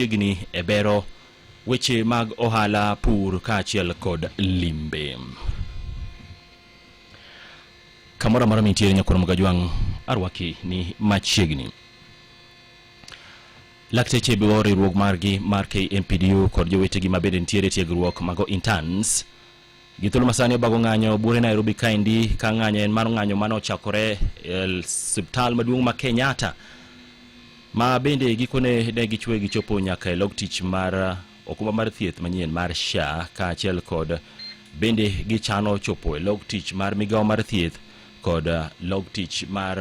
machiegni e bero weche mag ohala, pur kaachiel kod limbe. Kamoro amora mintiere Nyakoro Mgajwang' arwaki ni machiegni. Lakteche biwo riwruok margi mar KMPDU kod jowetegi ma bende nitiere tiegruok mago interns Gi thuolo masani obago ng'anyo bure Nairobi kaendi ka ng'anyo en mar ng'anyo mane ochakore e siptal maduong' ma Kenyatta ma bende gikone ne gichwe gichopo nyaka e log tich mar okumba mar thieth manyien mar SHA kaachiel kod bende gichano chopo e log tich mar migawo mar thieth kod log tich mar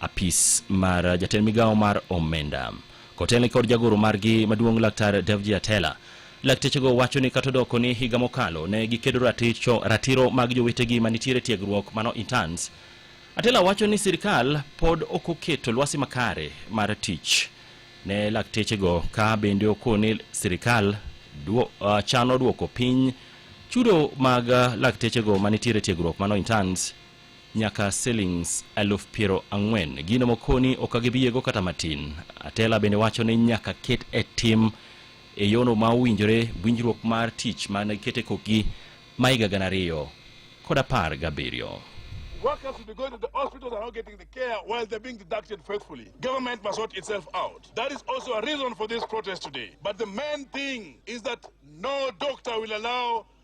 apis mar jatend migawo mar omenda kotelni kod jagoro margi maduong' laktar Davji Atela. Laktechego wacho ni kata odoko ni higa mokalo ne gikedo raticho ratiro mag jowetegi manitiere tiegruok mano interns. Atela wacho ni sirkal pod ok oketo lwasi makare mar tich ne laktechego ka bende oko ni sirkal duo, uh, chano duoko piny chudo mag uh, laktechego manitiere tiegruok mano interns nyaka silings eluf piero ang'wen. Gino mokoni ok agibiego kata matin. Atela bende wacho ni nyaka ket e tim e yono ma owinjore winjruok mar tich ma ne kete kokgi ma higa gana ariyo kod apar gabiriyo. Workers should be going to the hospitals and not getting the care while they're being deducted faithfully. Government must sort itself out. That is also a reason for this protest today. But the main thing is that no doctor will allow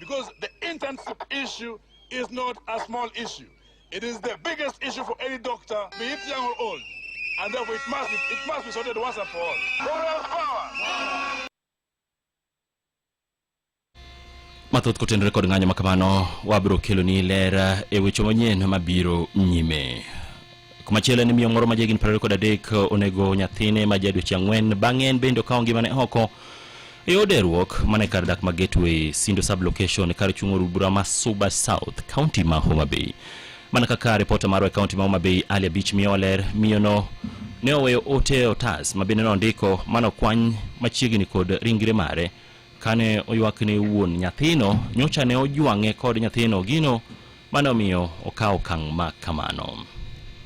Because the internship issue is not a small issue. It is the biggest issue for any doctor, be it young or old. And therefore it must be, it must be sorted once and for all. Moral power! mathoth kotenore kod ng'anyo ma kamano wabiro keloni ler e weche manyien mabiro nyime Kumachielo en miyo moro ma jahigni piero ariyo kod adek onego nyathine ma ja dweche ang'wen. Bang'e en bende okawo ngimane oko e od eruok mane kar dak ma Gateway Sindo sublocation kar chung' od bura ma Suba South, kaunti ma Homa Bay. Mana kaka ripota marwa e kaunti ma Homa Bay, Ali Abich miyowa ler, miyono ne oweyo ote e otas ma bende nondiko mano kwany machiegni kod ringre mare kane oywak ne wuon nyathino nyocha ne ojwang'e kod nyathino gino Mano omiyo okawo okang' ma kamano.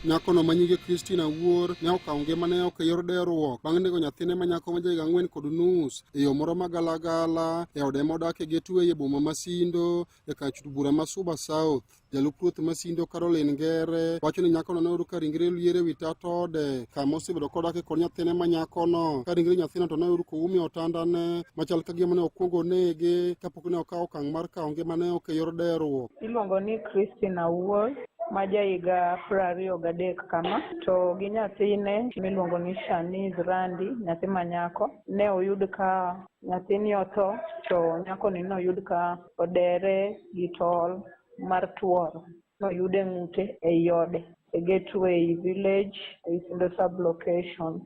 Nyakono ma nyinge Christine Awuor ne okawo ngimane oko e yor deruok bang' nego nyathine ma nyako ma jahigni ang'wen kod nus e yo moro ma galagala e ode modakie Gateway e boma ma Sindo e kar chut bura ma Suba South. Jalup ruoth ma Sindo Caroline Ngere wacho ni nyakono ne oyudo ka ringre lier e wi tat ode kama osebedo kodake kod nyathine ma nyakono ka ringre nyathino to ne oyud koum e otandane machal ka gima ne okwongo onege ne okawo okang' mar kawo ngimane ok e yor deruok. Iluongo ni Christine Awuor ma jahiga piero ariyo gadek kama to gi nyathine miluongo ni Shaniz Randi nyathi manyako ne oyud ka nyathini otho to nyakoni noyud ka odere gi tol mar tuoro. noyud e ng'ute ei ode e Gateway Village ei Sindo Sub Location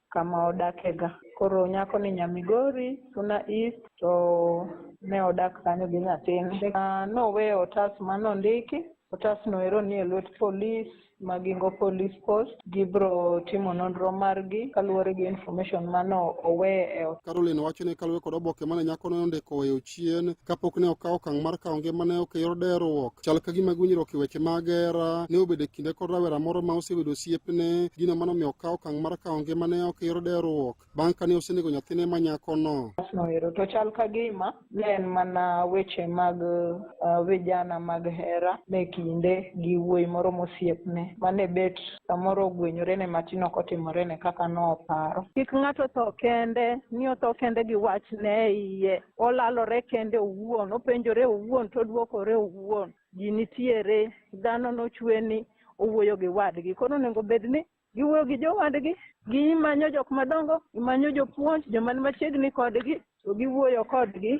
kama odakega. Koro nyakoni nya Migori, Suna East to ne odak kanyo gi nyathine. Ah, Noweyo otas ma nondiki, otasno ero nie lwet polis ma Gingo Police Post. Gibiro timo nonro margi kaluwore gi information ma no owe e otas. Caroline wacho ni kaluwore kod oboke mane nyakono nondiko weyo chien kapok ne okawo okang' mar kawo ngimane ok e yor deruok. Chal ka gima gwinyruok e weche mag hera ne obedo e kinde kod rawera moro ma osebedo osiepne, gino mano omiyo okawo okang' mar kawo ngimane ok e yor deruok bang' kane osenego nyathine ma nyakono. Noero to chal ka gima ne en mana weche mag uh, vijana mag hera me kinde gi wuoyi moro mosiepne mane bet samoro ogwenyorene matin ok otimorene kaka noparo. Kik ng'ato tho kende, ni otho kende gi wachne e iye. Olalore kende owuon, openjore owuon, to odwokore owuon. Ji nitiere, dhano nochwe ni owuoyo gi wadgi. Koro onego bed ni giwuoyo gi jowadgi, gimanyo jok madongo, gimanyo jopuonj, joma ni machiegni kodgi, to giwuoyo kodgi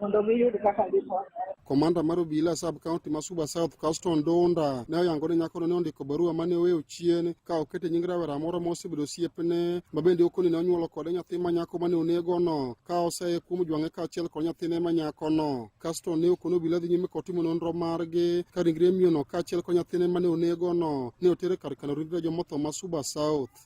mondo giyud kaka gikonyore. Komanda mar obila sub county ma Suba South Caston Donda ne oyango ni nyakono ne ondiko barua mane oweyo chien ka okete nying rawera moro ma osebedo osiepne ma bende okoni ne onyuolo kode nyathi ma nyako mane onegono ka oseye kuom jwang'e kaachiel kod nyathine ma nyakono. Caston ne okono obila dhi nyime kotimo nonro margi ka ringre miyono kaachiel kod nyathine mane onegono ne otere kar kano ringre jomotho ma Suba South.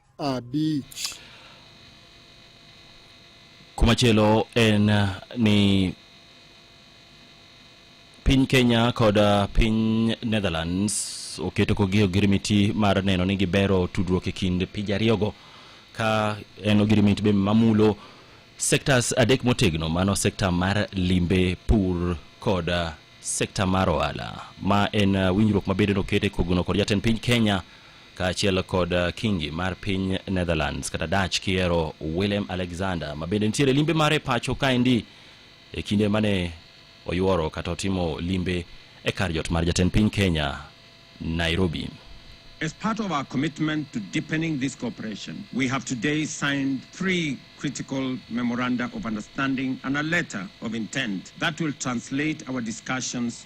abich. Kumachielo en uh, ni piny Kenya kod uh, piny Netherlands oketo kogi ogirimiti mar neno ni gibero tudruok e kind pinje ariyogo ka en ogirimiti be mamulo sectors adek motegno mano sekta mar limbe pur kod uh, sekta mar ohala ma en winjruok mabedo nokete kogno kod jatend piny Kenya kaachiel kod uh, kingi mar piny netherlands kata dach kiero willem alexander ma bende nitiere limbe mare pacho kaendi e kinde mane oyuoro kata otimo limbe e kar jot mar jatend piny kenya nairobi As part of our commitment to deepening this cooperation, we have today signed three critical memoranda of understanding and a letter of intent that will translate our discussions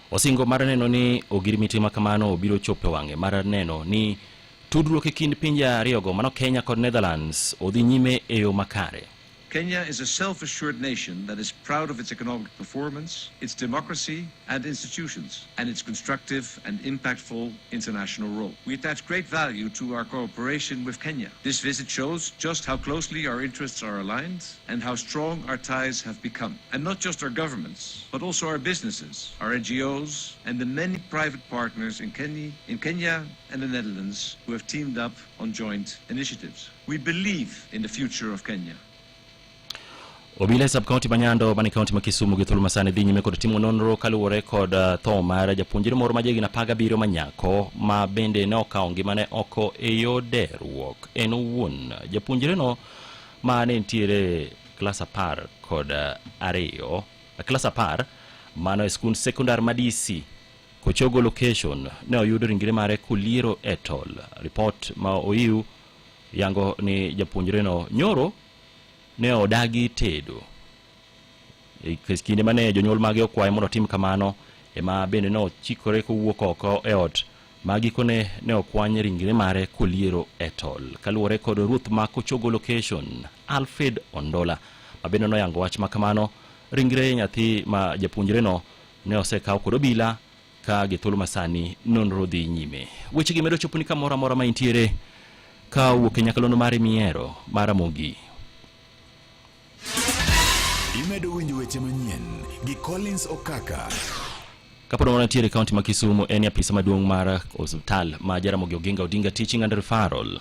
Osingo mar neno ni ogirimiti ma kamano obiro chopo e wang'e mar neno ni tudruok e kind pinje ariyogo mano Kenya kod Netherlands odhi nyime e yo makare. Kenya is a self-assured nation that is proud of its economic performance, its democracy and institutions, and its constructive and impactful international role. We attach great value to our cooperation with Kenya. This visit shows just how closely our interests are aligned and how strong our ties have become. And not just our governments, but also our businesses, our NGOs, and the many private partners in Kenya, in Kenya and the Netherlands who have teamed up on joint initiatives. We believe in the future of Kenya. obila e subkaunti ma nyando mani kaunti ma kisumu gi thuolo masani dhi nyime kod timo nonro kaluwore kod uh, tho mar japuonjre moro ma jahigni apar gabiriyo ma nyako ma bende ne okawo ngimane oko e yo deruok en owuon japuonjreno ma ne nitiere klas apar kod ariyo klas apar mano e skund sekondar ma DC Kochogo location ne oyudo ringre mare koliero e tol. Ripot ma oyiw yango ni japuonjreno nyoro ne odagi tedo E kinde mane jonyuol mage okwaye mondo otim kamano ema bende ne ochikore kowuok oko e ot ma gikone ne okwany ringre mare koliero e tol kaluwore kod ruoth ma kochogo location alfred ondola ma bende noyango wach ma kamano ringre nyathi ma japuonjreno ne osekaw kod obila ka gi thuolo masani nonro dhi nyime wechegi medo choponi kamoro amora ma intiere ka wuok e nyakalondo mare mihero mar amogi Imedo winjo weche manyien gi Collins Okaka. Kapod wana tiere kaunti ma Kisumu en apisa maduong' mar osiptal ma Jaramogi Oginga Odinga Teaching and Referral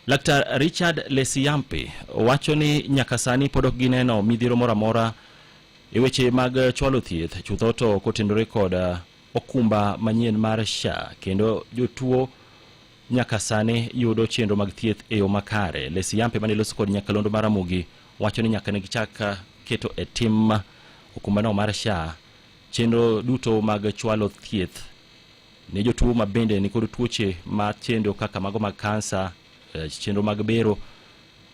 Laktar Richard Lesiyampe wacho ni nyaka sani pod ok gineno midhiro moro amora e weche mag chwalo thieth chutho to kotenore kod uh, okumba manyien mar SHA kendo jotuo nyaka sani yudo chenro mag thieth e yo makare. Lesiyampe mane loso kod nyakalondo mar Ramogi wacho ni nyaka ne gichak ah, keto e tim okumbano mar SHA chenro duto mag chwalo thieth ne jotuo ma bende nikod tuoche ma chendo kaka mago mag kansa, eh, chenro mag bero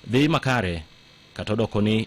dhi makare kata odoko ni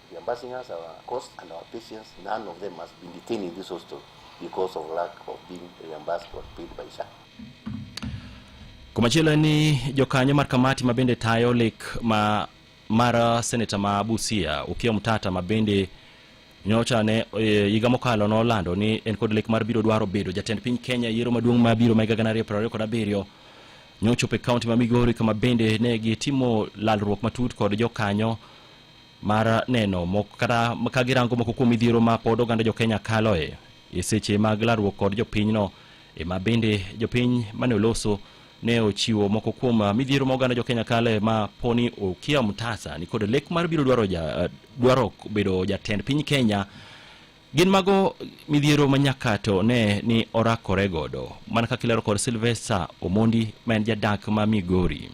The ambassadors, our cost and our patience, none of them has been detained in this hostel because of lack of being reimbursed or paid by SHA. Kumachielo ni jokanyo mar kamati ma bende tayo lek ma mar seneta ma Busia Okiya Mtata ma bende nyocha ne e, higa mokalo nolando ni en kod lek mar biro dwaro bedo jatend piny Kenya e yiero maduong' ma biro ma higa gana ariyo piero ariyo kod abiriyo nyochopo e kaunti ma Migori kama bende ne gitimo lalruok matut kod jokanyo mar neno moko kata ka girango moko kuom midhiero ma pod oganda jokenya kaloe e seche mag larruok kod jopinyno ema bende jopiny mane oloso ne ochiwo moko kuom ah, midhiero ma oganda jokenya kale ma poni okia mtasa ni kod lek mar biro dwaro, ja, ah, dwaro bedo jatend piny kenya gin mago midhiero ma nyaka to ne ni orakore godo mana kaka ilero kod silvester omondi ma en jadak ma migori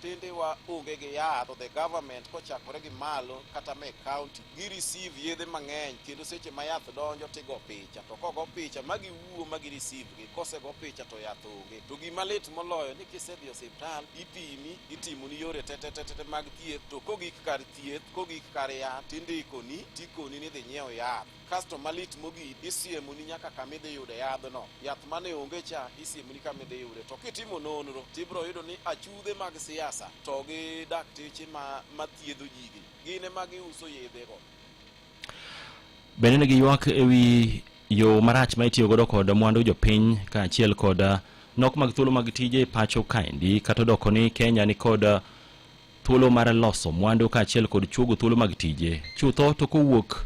tinde wa onge gi yath the government kochakore gi malo kata me county gi receive yedhe mang'eny kendo seche ma yath donjo tigo picha to kogo picha ma giwuo ma gi receive gi kosego picha to yath onge to gima lit moloyo ni kisedhi e osiptal ipimi itimoni yore tetetetete mag thieth to kogik kar thieth kogik kar yath tindikoni tikoni ni dhi nyiew yath kasto malit mogik isiemoni nyaka kama idhi yude yadhno yath mane onge cha isiemoni kama idhi yude to kitimo nonro tibiro yudo ni achudhe mag siasa to gi dakteche ma, ma thiedho jigi gin ema giuso yedhego bende ne giywak e wi yo marach ma itiyo godo kod mwandu jopiny kaachiel kod ah, nok mag thuolo mag tije e pacho kaendi kata odoko ni kenya ni kod ah, thuolo mar loso mwandu kaachiel kod chuogo thuolo mag tije chutho to kowuok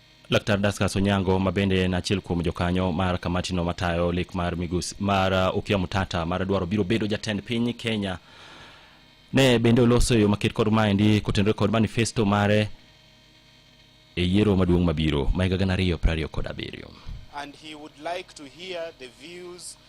Laktar Daskas Onyango ma bende en achiel kuom jokanyo mar kamatino matayo lek mar migus mar uh, Okia Mutata mar dwaro biro bedo jatend piny Kenya ne bende oloso yo maket kod maendi kotenore kod manifesto mare e yiero maduong' mabiro ma higa gana ariyo prariyo kod abiriyo. And he would like to hear the views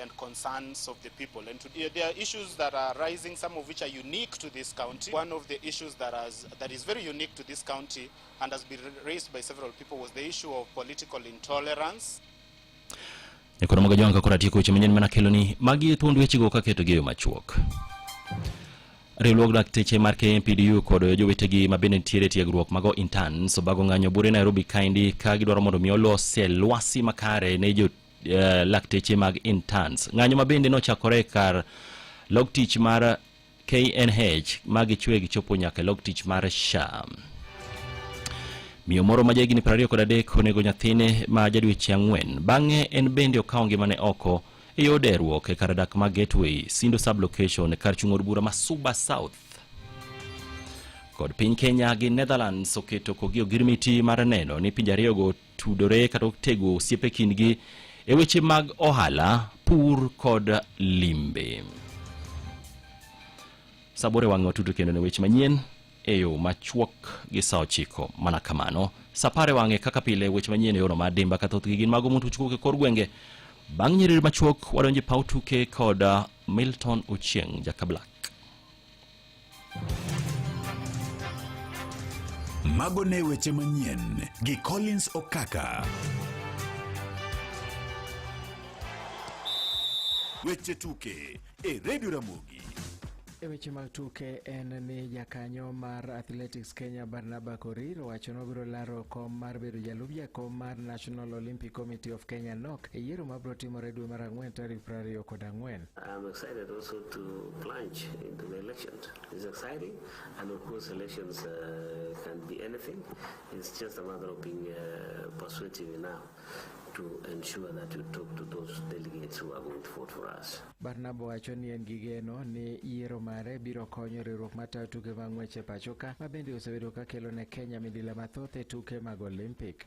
and concerns of the people. And today, there are issues that are rising, some of which are unique to this county. One of the issues that, has, that is very unique to this county and has been raised by several people was the issue of political intolerance. Nyakoro moga jonga kora tieko weche manyien mana kelo ni magi thuond wechego ka keto gi yo machuok. Riwruog dakteche mar KMPDU kod jowetegi ma bende nitiere tiegruok mago interns obago ng'anyo bure Nairobi kaendi ka gidwaro mondo mi olose lwasi makare ne jo eh, lakteche mag interns. Ng'anyo ma bende nochakore kar log tich mar KNH ma gichwe gichopo nyaka e log tich mar SHA. Miyo moro ma jahigni 20 kod adek onego nyathine ma jadweche ang'wen. Bang'e en bende okawo ngimane oko e yor deruok e kar dak ma Gateway, Sindo Sublocation e kar chung' od bura ma Suba South. Kod piny Kenya gi Netherlands oketo kogi ogirmiti mar neno ni pinje ariyogo tudore kata otego osiepe kindgi e weche mag ohala, pur kod limbe. Sabore wang'e watudo kendo ne weche manyien e yo machuok gi sa ochiko mana kamano. Sapare wang'e kaka pile weche manyien e yono mar dimba ka thothgi gin mago mondo uchwok e kor gwenge. Bang' nyiriri machuok wadonje paw tuke kod ah, Milton Ochieng' Jaka Black. Mago ne weche manyien gi Collins Okaka. Weche tuke e Radio Ramogi. E weche mag tuke en ni jakanyo mar Athletics Kenya Barnaba Korir owacho ni obiro laro kom mar bedo jalup jakom mar National Olympic Committee of Kenya nok e yiero mabiro timore dwe mar ang'wen tarik 24. I'm excited also to plunge into the elections. It's exciting, and of course, elections uh, can be anything. It's just a matter of being uh, persuasive now to ensure that you talk to those delegates who are going to vote for us. Barnaba wacho ni en gi geno ni yiero mare biro konyo riwruok matayo tuke mag ng'wech e pachoka ma bende osebedo ka kelo ne Kenya midila mathoth e tuke mag Olympic.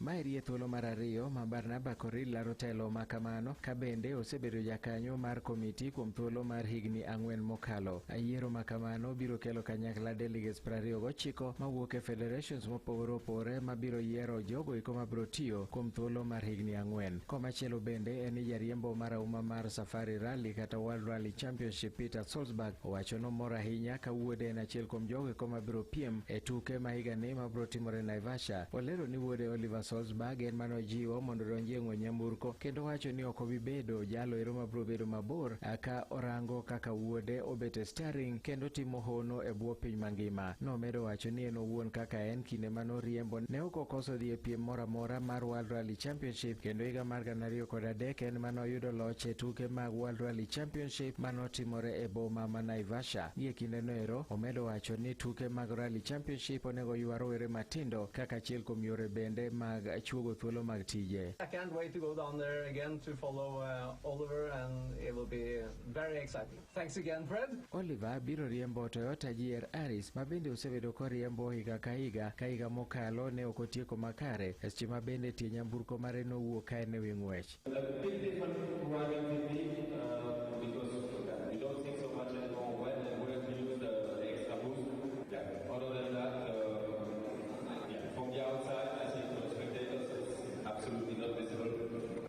Ma eri e thuolo mar ariyo ma Barnaba Koril laro telo ma kamano, ka bende osebedo jakanyo mar komiti kuom thuolo mar higni ang'wen mokalo. A Yiero ma kamano biro kelo kanyakla delegates 29 mawuok e federations mopogore opogore ma biro yiero jogo eko ma biro tiyo kuom thuolo mar higni ang'wen. Komachielo bende en ni jariembo marahuma mar Safari Rally kata World Rally Championship Peter Solzberg owacho nomor ahinya ka wuode en achiel kuom jogo eko ma biro piem e tuke ma higani ma biro timore Naivasha Russia. Olero ni wuode Oliver Solzberg en mane ojiwo mondo odonji e ng'we nyamburko kendo wacho ni ok obi bedo jalo ero mabiro bedo mabor ka orango kaka wuode obet e staring kendo timo hono e bwo piny mangima. Nomedo wacho ni en owuon kaka en kinde mane oriembo ne ok okoso dhi e piem moro amora mar World Rally Championship kendo higa mar gana ariyo kod adek en mane oyudo loch e tuke mag World Rally Championship mane otimore e boma ma Naivasha. Gie kindeno ero, omedo wacho ni tuke mag Rally Championship onego ywa rowere matindo kaka achiel kuom yore bende mag chuogo thuolo mag tije. I can't wait to go down there again to follow uh, Oliver and it will be very exciting. Thanks again, Fred. Oliver biro riembo Toyota GR Aris ma bende osebedo koriembo higa ka higa ka higa mokalo ne ok otieko makare seche ma bende tie nyamburko mare nowuok ka en e wi ng'wech.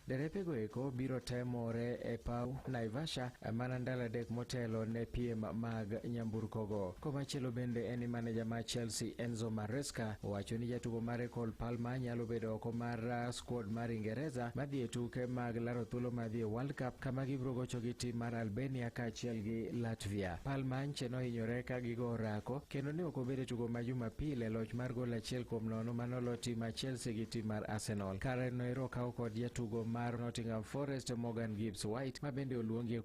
Derepego eko biro temore e paw Naivasha mana ndalo adek motelo ne piem mag nyamburkogo. Komachielo bende en ni maneja mar Chelsea Enzo Maresca owacho ni jatugo mare Cole Palmer nyalo bedo oko mar Squad mar Ingereza madhi e tuke mag laro thuolo madhi e World Cup kama gibiro gocho gi tim mar Albania kaachiel gi Latvia. Palmanche nohinyore ka gigo orako kendo ne ok obed e tugo ma Jumapil e loch mar gol achiel kuom nono ma nolo tim mar Chelsea gi tim mar Arsenal. Kare noero okaw kod jatugo mar Nottingham Forest Morgan Gibbs White ma bende oluongi e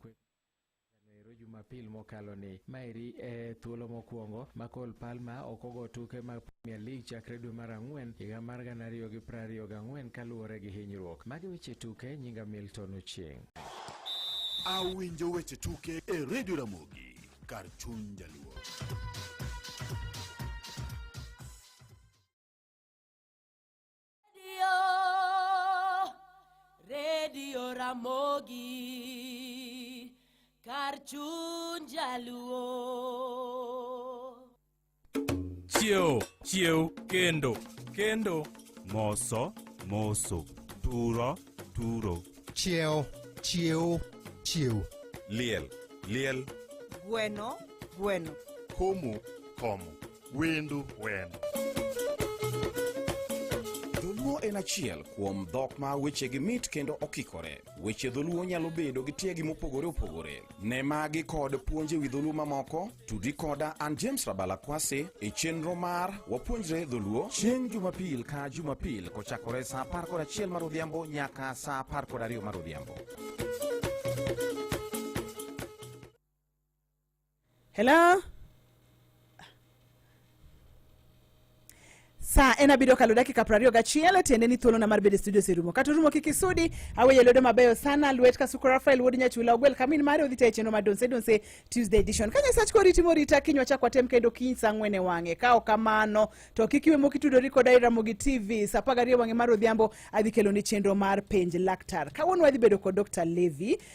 Ero Jumapil mokalo ni. Maeri e thuolo mokwongo ma Cole Palmer ok ogo tuke mag Premier League chakre dwe mar ang'wen higa mar gana ariyo gi piero ariyo gang'wen kaluwore gi hinyruok. Magi weche tuke nyinga Milton Ochieng'. Awinjo weche tuke e Radio Ramogi kar chuny jaluo. Redio Ramogi kar chuny jaluo. chiew chiew kendo kendo moso moso turo turo chiew chiew chiew liel liel gweno gweno komo komo Wendo wendo. Dholuo en achiel kuom dhok ma wechegi mit kendo okikore. Weche dholuo nyalo bedo gi tiegi mopogore opogore. Ne magi kod puonje wi dholuo mamoko, tudi koda an James Rabala Kwasi e chenro mar Wapuonjre Dholuo chieng' Jumapil ka Jumapil kochakore sa apar kod achiel mar odhiambo nyaka sa apar kod ariyo mar odhiambo. Hello? saa en abiriyo kalo dakika prariyo gachiel tiende ni thuolona mar bedo e studio oserumo kata orumo kik isudi aweye lwedo mabeyo sana lwet kasuko rafael wuod nyachula ogwel kamin mare odhi tayo e chenro mar donse donse tuesday edition ka nyasach kori timo rita kiny wachak watem kendo kiny sa ang'wen e wang'e ka ok kamano to kik iwe mokitudori koda iramogi tv sa apar gariyo wang'e mar odhiambo adhi kelo ni chenro mar penj laktar kawuono wadhi bedo kod dr levi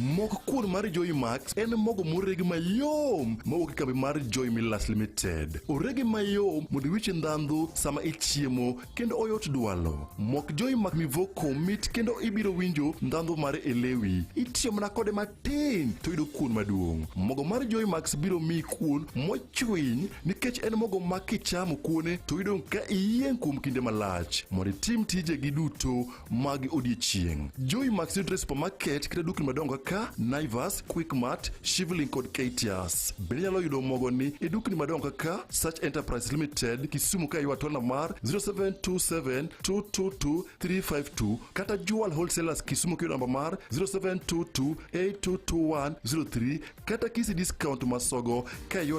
Mok kuon mar Joy Max en mogo moreg mayom mowuok e kambi mar Joy Millers Limited. Orege mayom mondo iwich ndhandhu sama ichiemo kendo oyot dwalo. Mok Joy Max mivoko mit kendo ibiro winjo ndhandhu mare e lewi. Itiyo mana kode matin to yudo kuon maduong'. Mogo mar Joy Max biro miyi kuon mochwiny nikech en mogo ma kichamo kuone to yudo ka iyieng' kuom kinde malach. Mondo itim tijegi duto mag odiechieng'. Joy Max yudore e supermarket kata dukni madongo kaka Naivas, Quickmart, Shivling kod Katias. Bende inyalo yudo mogoni e dukni madongo kaka Search Enterprise Limited, Kisumu ka ywa tola mar 0727222352 kata Jewel Wholesalers Kisumu kiyudo namba mar 0722822103 kata Kisi Discount Masogo ka ywa